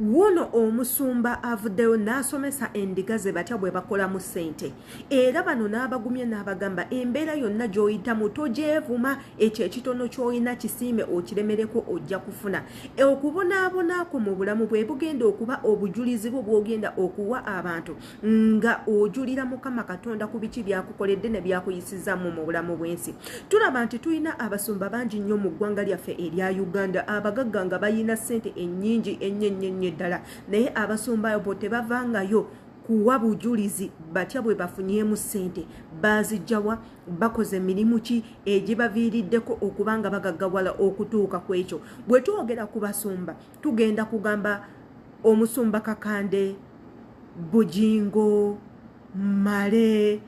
Wuuno omusumba avuddeyo n'asomesa endiga ze batya bwe bakolamu ssente era bano n'abagumye n'abagamba embeera yonna gy'oyitamu togyevuma ekyo ekitono ky'olina kisiime okiremereko ojja kufuna okubonaabonaako mu bulamu bwe bugenda okuba obujulizi bwo bw'ogenda okuwa abantu nga ojulira mukama katonda ku biki byakukoledde ne byakuyisizaamu mu bulamu bw'ensi tulaba nti tulina abasumba bangi nnyo mu ggwanga lyaffe erya uganda abagagga nga balina ssente ennyingi ennyo ennyo ennyo eddala naye abasumba bo tebavangayo kuwa bujulizi batya bwe bafunyemu ssente baazijjawa bakoze mirimu ki egibaviiriddeko okubanga bagaggawala okutuuka ku ekyo bwe twogera ku basumba tugenda kugamba omusumba kakande bujingo male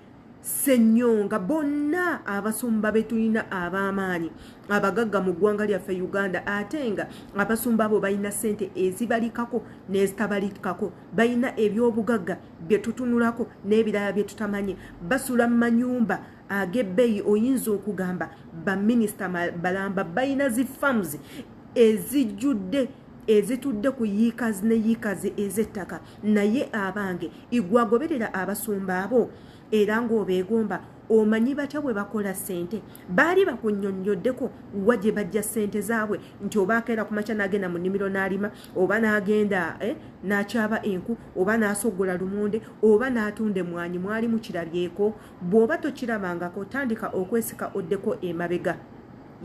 senyonga bonna abasumba betulina ab'amaanyi abagagga mu ggwanga lyaffe uganda ate nga abasumba abo balina sente ezibalikako n'ezitabalikako balina ebyobugagga bye tutunulako n'ebirala bye tutamanyi basula mu manyumba agebbeyi oyinza okugamba baminisita balamba balina zi farms ezijjudde ezitudde ku yiikazi ne yiikazi ez'ettaka naye abange igwagoberera abasumba abo era ng'obeegomba omanyi batya bwe bakola ssente baali bakunyonnyoddeko wa gye bajja ssente zaabwe nti oba akeera ku makya n'agenda mu nnimiro n'alima oba n'agenda eh, n'akyaba enku oba n'asoggola lumonde oba n'atunda emwanyi mwali mukirabyeko bwoba tokirabangako tandika okwesika oddeko emabega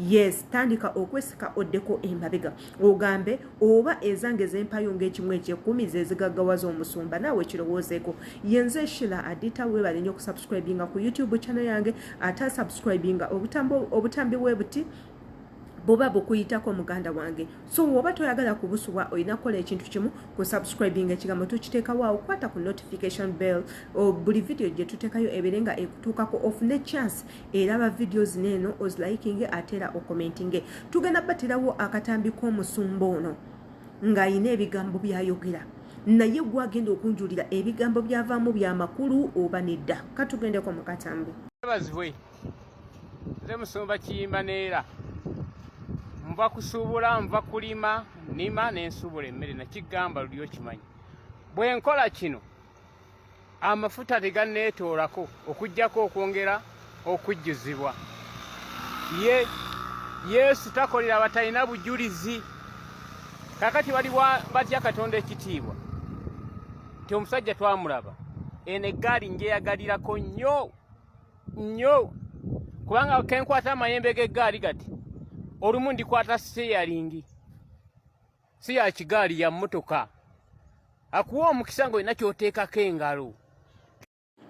yes tandika okwesika oddeko emabega ogambe oba ezange zempayo ngaekimu ekyekumi zezigaggawaza omusumba naawe kirowoozeeko yenze shila adita webale nyo okusubscribinga ku youtube channel yange ate asubscribinga obutambi webuti buba bukuyitako muganda wange so woba toyagala kubusubwa olina kukola ekintu kimu ku subscribing ekigambo tukiteekawo awo kwata ku notification bell buli vidiyo gye tuteekayo ebeere nga ekutuukako ofune chance eraba vidiyo zino eno ozilikinge ate era okomentinge tugenda batirawo akatambi k'omusumba ono ng'alina ebigambo byayogera naye gwagenda okunjulira ebigambo byavaamu byamakulu oba nedda katugendeko mu katambi nze musumba kiyimba neera nva kusuubula nva kulima nima nensuubula emmere nakigamba luli okimanyi bwe nkola kino amafuta teganneetoolako okugyako okwongera okujjuzibwa ye yesu takolera batalina bujulizi kakati bali batya katonda ekitiibwa ti omusajja twamulaba eno eggaali njeyagalirako nnyo nnyo kubanga kenkwata amayembe g'eggaali kati olumu ndikwata seyalingi si ya kigaali ya mmotoka akuwa omukisa ng'olina ky'oteekako engalo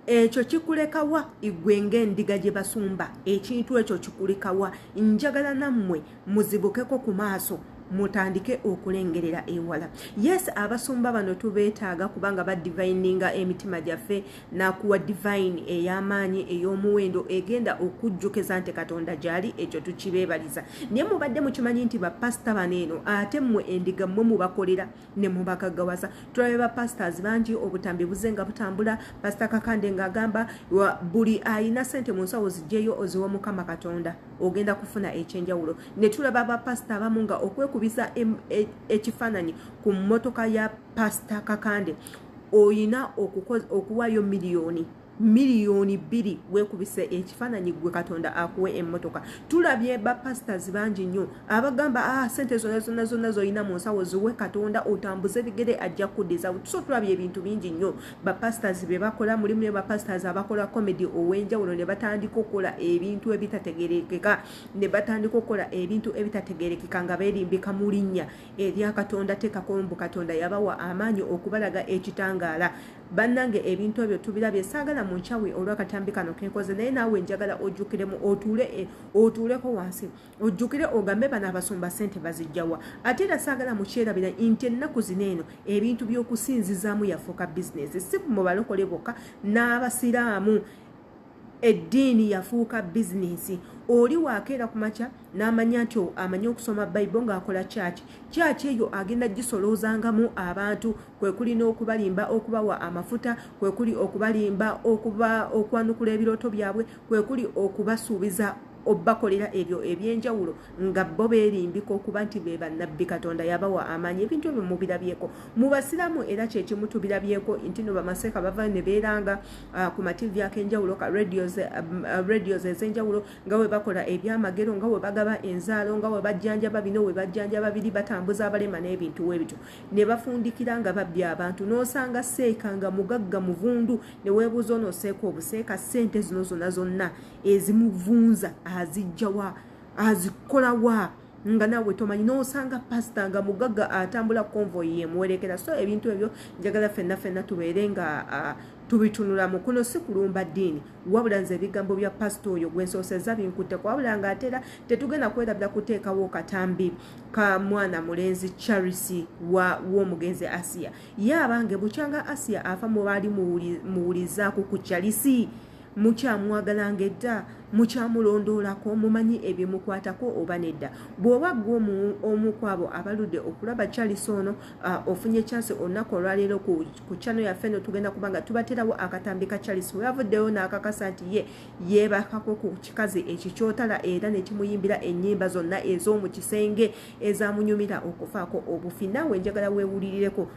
ekyo kikulekawa igwe ng'endiga gye basumba ekintu ekyo kikulekawa njagala nammwe muzibukeko ku maaso mutandike okulengerera ewala yes abasumba bano tubeetaaga kubanga badivininga emitima gyaffe n'akuwa divayini ey'amaanyi ey'omuwendo egenda okujjukiza nti katonda gyali ekyo tukibeebaliza naye mubadde mukimanyi nti bapasita bano eno ate mmwe endiga mmwe mubakolera ne mubagaggawaza tulabe bapasitors bangi obutambi buze nga butambula pasita kakande ng'agamba buli ayina sente mu nsawo zijjeyo oziwa mukama katonda ogenda kufuna ekyenjawulo ne tulaba bapasita abamu nga okwekubiza e, ekifaananyi ku mmotoka ya pasita kakande oyina okuwayo miliyoni miliyoni bbiri wekubise ekifaananyi gwe katonda akuwe emmotoka tulabye bapasitors bangi nnyo abagamba a ah, sente zona zona zona zolina mu nsawo ziwe katonda otambuze bigere ajja kuddiza so tulabye ebintu bingi nnyo bapasitors be bakola mulimu ne bapasitors abakola comedy ow'enjawulo ne batandika okukola ebintu ebitategerekeka ne batandika okukola ebintu ebitategerekeka nga berimbika mu linnya erya katonda tekako mbu katonda yabawa amaanyi okubalaga ekitangaala bannange ebintu ebyo tubirabye saagala mu nkyawe olwakatambi kano kenkoze naye naawe njagala ojjukiremu otuule eh, otuuleko wansi ojjukire ogambe bano abasumba sente bazijjawa ate era saagala mukyerabira nti ennaku zino eno ebintu by'okusinzizaamu yafuuka bizinesi si mubalokole bokka n'abasiraamu eddiini yafuuka bizinensi oli waakeera ku makya n'amanya nti amanyi okusoma bayibo ng'akola kyaki kyaki eyo agenda gisoloozangamu abantu kwe kuli n'okubalimba okubawa amafuta kwe kuli okubalimba okuba okwanukula ebirooto byabwe kwe kuli okubasuubiza obakolera ebyo ebyenjawulo nga bo berimbika okuba nti be bannabbi katonda yabawa amaanyi ebintu ebyo mubirabyeko mu basiraamu era kyekimu tubirabyeko nti no bamaseeka bavayo ne beeranga uh, ku mativi akenjawulo ka radios um, uh, ezenjawulo nga we bakola ebyamagero nga we bagaba enzaalo nga we bajjanjaba bino we bajjanjaba biri batambuza abalema n'ebintu webityo ne bafundikira nga babbi abantu n'osanga seeka nga mugagga muvundu ne weebuuza onooseeka obuseeka ssente zino zonna zonna ezimuvunza azijjawa azikolawa nga nawe tomanyi nosanga pasita nga mugaga atambula convoy yemuwerekera so ebintu ebyo njagala fenna fenna tubeere nga uh, tubitunulamu kuno si kulumba ddiini wabula nze ebigambo bya pasita oyo gwensooseza binkutteko wabula nga atera tetugenda kwerabira kuteekawo katambi ka mwana mulenzi charisi w'omugenzi asiya ye abange bukyanga asiya afa mubaali muwulizaaku ku charisi mukyamwagalanga edda mukyamulondoolako mumanyi ebimukwatako oba nedda bw'oba gwe omu kwabo abaludde okulaba charles ono ofunye chance olunaku olwaleero ku chano yaffe no tugenda kuba nga tubaterawo akatambi ka charles weyavuddeyo n'akakasa nti ye yeebakako ku kikazi ekikyotala era nekimuyimbira ennyimba zonna ez'omu kisenge ezamunyumira okufaako obufi naawe njagala weewulirireko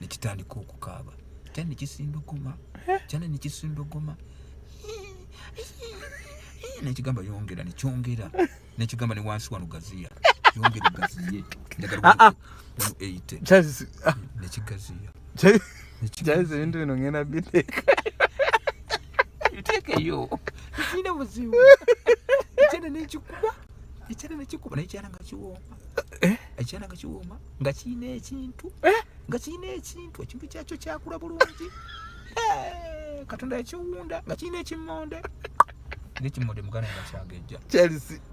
ne kitandika okukaaba kyana ne kisindogoma kyana ne kisindogoma nekigamba yongera nekyongera nekigamba ne wansi wano gaziya yongera gaziye ah, ah. ah. nekigaziya jaizi ebintu bino ngenda biteeka biteekeyo tekirina buzibu ekyana nekikuba ekyana nekikuba naye kyana nga kiwooma ekyana eh? nga kiwooma nga kirina ekintu eh? nga kirina ekintu ekintu kyakyo kyakula bulungi eh, katonda yakiwunda nga kirina ekimonde nekimonde muganda nga kyagejja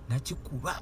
nakikuba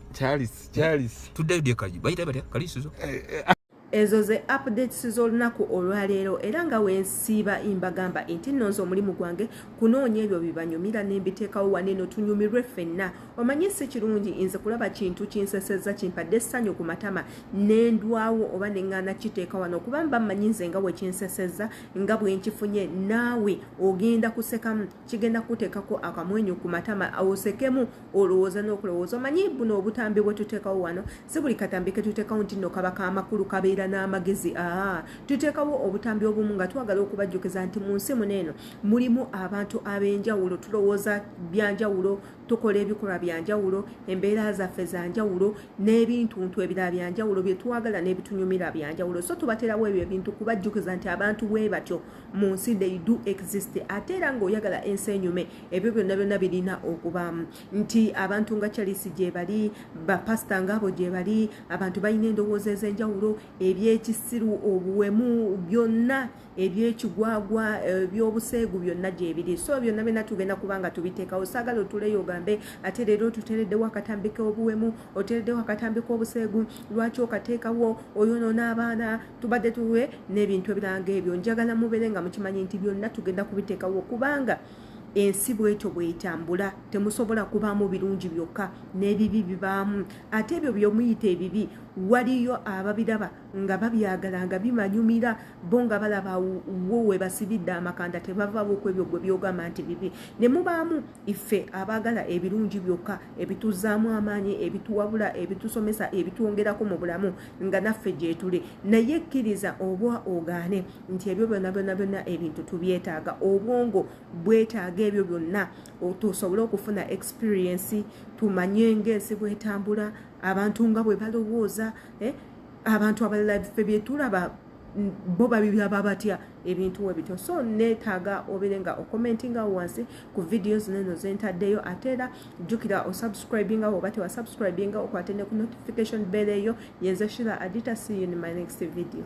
tuddayo dyekaji bayita batya kalisizo eh, ezo ze updates z'olunaku olwaleero era nga wensiiba imbagamba nti nonze omulimu gwange kunoonya ebyo bibanyumira nembiteekawo waneeno tunyumirwe ffenna omanyi si kirungi nze kulaba kintu kinseseza kimpadde essanyu ku matama nendwawo oba neŋŋaana kiteeka wano okuba mba mmanyi nze nga wekinseseza nga bwenkifunye naawe ogenda kusekamu kigenda kukuteekako akamwenyu ku matama osekemu olowooza n'okulowooza omanyi buno obutambi bwe tuteekawo wano si buli katambi ke tuteekawo nti nno kaba kaamakulu kabeera n'amagezi aa tuteekawo obutambi obumu nga twagala okubajjukiza nti mu nsi muno eno mulimu abantu ab'enjawulo tulowooza byanjawulo tukola ebikolwa bya njawulo embeera zaffe za njawulo n'ebintuntu ebirala bya njawulo bye twagala n'ebitunyumira bya njawulo so tubaterawo ebyo ebintu kubajjukiza nti abantu bwe batyo mu nsi they do exist ate era ng'oyagala ensi enyume ebyo byonna byonna birina okubaamu nti abantu nga charisi gye bali bapasita ngaabo gye bali abantu balina endowooza ez'enjawulo ebyekisiru obuwemu byonna ebyekigwagwa ebyobuseegu byonna gyebiri so byonna byonna tugenda kubanga tubiteekawo saagala otuleyo ogambe ate leero otutereddewo akatambi k'obuwemu otereddewo akatambi k'obuseegu lwaki okateekawo oyonoona abaana tubadde tuwe n'ebintu ebiranga ebyo njagala mubeere nga mukimanyi nti byonna tugenda kubiteekawo kubanga ensi bwetyo bwetambula temusobola kubaamu birungi byokka n'ebibi bibaamu ate ebyo byomuyita ebibi waliyo ababiraba nga babyagala nga bimanyumira bo nga balaba wo webasibidde amakanda tebavabo ku ebyo gwe byogamba nti bibi ne mubaamu iffe abaagala ebirungi byokka ebituzaamu amaanyi ebituwabula ebitusomesa ebitwongerako mu bulamu nga naffe gyetuli naye kkiriza obwa ogaane nti ebyo byonna byonna byonna ebintu tubyetaaga obwongo bwetaaga ebyo byonna tusobole okufuna experiensi tumanye ngaensi bwetambula abantu nga bwe balowooza eh, abantu abalala ffe byetulaba bo babiraba batya ebintu webityo so netaaga obere nga okomentinga wansi ku vidiyo zino eno zentaddeyo ate era jjukira osubscribinga woba tewasubscribinga okwate ne ku notification bell eyo yenze shira adita see you in my next video